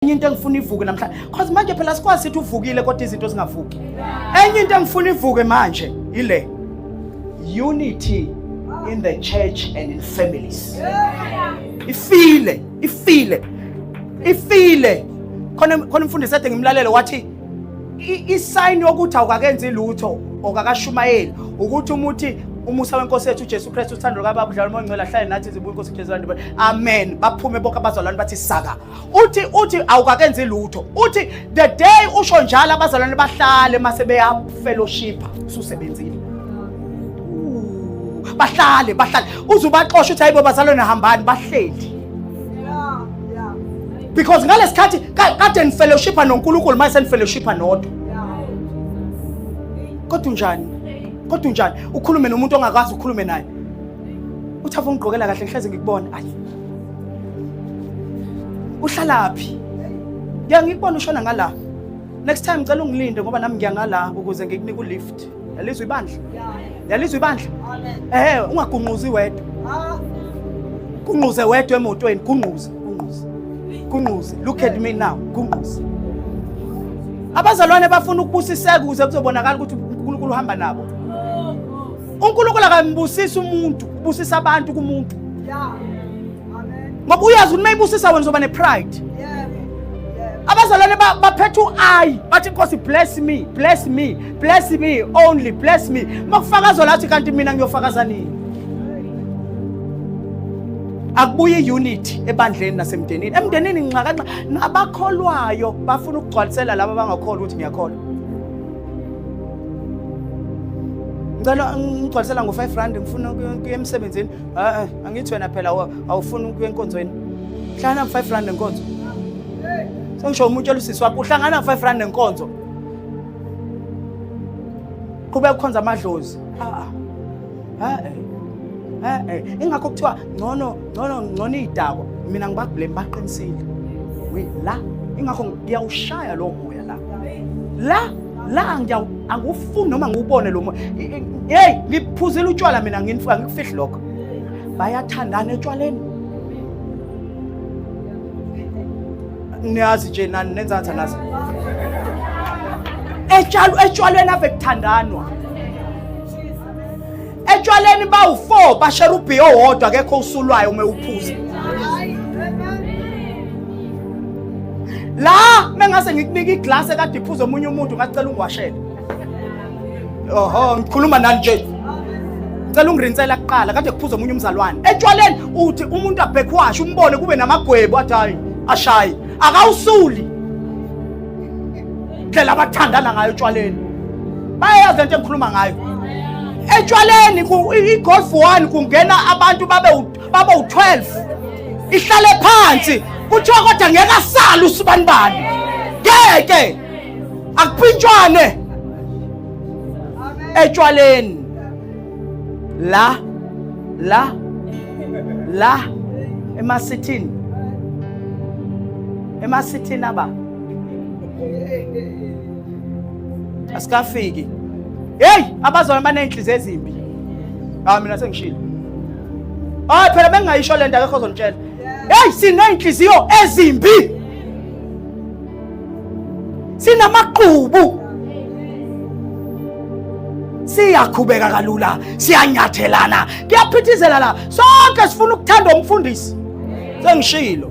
enye into engifuna ivuke namhlanje cause manje phela sikwazi sithi uvukile kodwa izinto zingavuki enye into engifuna ivuke manje ile unity in the church and in families ifile ifile ifile khona khona umfundisi ade ngimlalele wathi isayini yokuthi awukakenzi lutho okakashumayeli ukuthi umuthi umusa wenkosi yethu uJesu Kristu uthando lukababa udlala umoya ongcwele ahlale nathi zibuye inkosi uJesu amen baphume bonke abazalwane bathi saka uthi uthi awukakenzi lutho uthi the day usho njalo abazalwane bahlale mase beyafellowship ususebenzile bahlale bahlale uze ubaxosha uthi hayibo bazalwane hambani bahleli because ngalesikhathi kade nifellowshipa noNkulunkulu mase senifellowshipa nodwa kodwa unjani kodwa unjani ukhulume nomuntu ongakwazi ukhulume naye uthi afa ungigqokela kahle ngihleze ngikubona ayi uhlalaphi ngiya ngikubona ushona ngala next time ngicela ungilinde ngoba nami ngiya ngala ukuze ngikunika ulift yalizwa ibandla yalizwa ibandla ehe ungagunquzi wedwa kunquze wedwa emotweni kunquze kunquze kunquze look at me now kunquze abazalwane bafuna ukubusiseka ukuze kuzobonakala ukuthi uNkulunkulu uhamba nabo unkulunkulu akambusisi umuntu ubusisa abantu kumuntu ngoba uyazi ukuthi mayibusisa wena uzoba ne-pride abazalwane baphetha u-ayi bathi inkosi bless me bless me bless me only bless me uma kufakazwa lathi kanti mina ngiyofakaza nini akubuye i-unity ebandleni nasemndenini emndenini nxakanxa nabakholwayo bafuna ukugcwalisela laba abangakholwa ukuthi ngiyakholwa ngicela ngigcwalisela ngo-five rand ngifuna kuya emsebenzini a-e angithi wena phela awufuni ukuya enkonzweni hlangana ngo-five rand nenkonzo sengisho umuntu elusisi wakho uhlangana ngo-five rand nenkonzo qhubeka kukhonza amadlozi a-a a-e a-e ingakho kuthiwa ngcono ngcono ngcono idakwa mina ngibablame baqinisile we la ingakho ngiyawushaya lo moya la la la ngiyaw angufuni noma ngiwubone lo moya hey ngiphuzile utshwala mina nginifika ngikufihli lokho bayathandana etshwaleni niyazi nje nani nenza ngathi anazi etshalo etshwaleni ave kuthandanwa etshwaleni bawu-4 basherubhi owodwa kekho usulwayo uma ewuphuza la mengase ngikunika iglasi ekade iphuza omunye umuntu ngacela ungiwashele oho ngikhuluma nani nje ngicela ungirinsela kuqala kade kuphuza omunye umzalwane etshwaleni uthi umuntu abhekwashe umbone kube namagwebu athi hayi ashayi akawusuli ndlela abathandana ngayo etshwaleni bayayazi lento engikhuluma ngayo etshwaleni i-golf one kungena abantu babe babe u-12 ihlale phansi kuthiwa kodwa ngeke asale usibanibani ngeke akuphintshwane etshwaleni la la la emasithini emasithini aba asikafiki heyi abazalwane baney'nhliziyo ezimbi hawu mina sengishile hayi ah, phela bengingayisho le nto akekho ozongitshela heyi siney'nhliziyo ezimbi sinamaqhubu siyakhubeka kalula siyanyathelana kuyaphithizela la sonke sifuna ukuthanda umfundisi sengishilo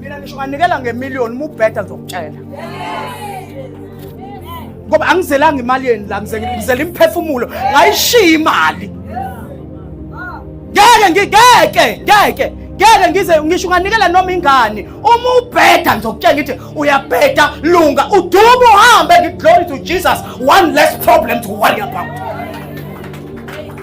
mina ngisho unganikela ngemiliyoni uma ubheda ngizokutshela ngoba angizelanga imali yeni la ngizela imphefumulo ngayishiya imali ngeke ngigeke ngeke ngeke ngize ngisho unganikela noma ingane uma ubheda ngizokutshela ngithi uyabheda lunga udume uhambe ngiglory to jesus one less problem to worry about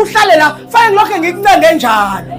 uhlale la fane ngilokhe ngikuncenge njalo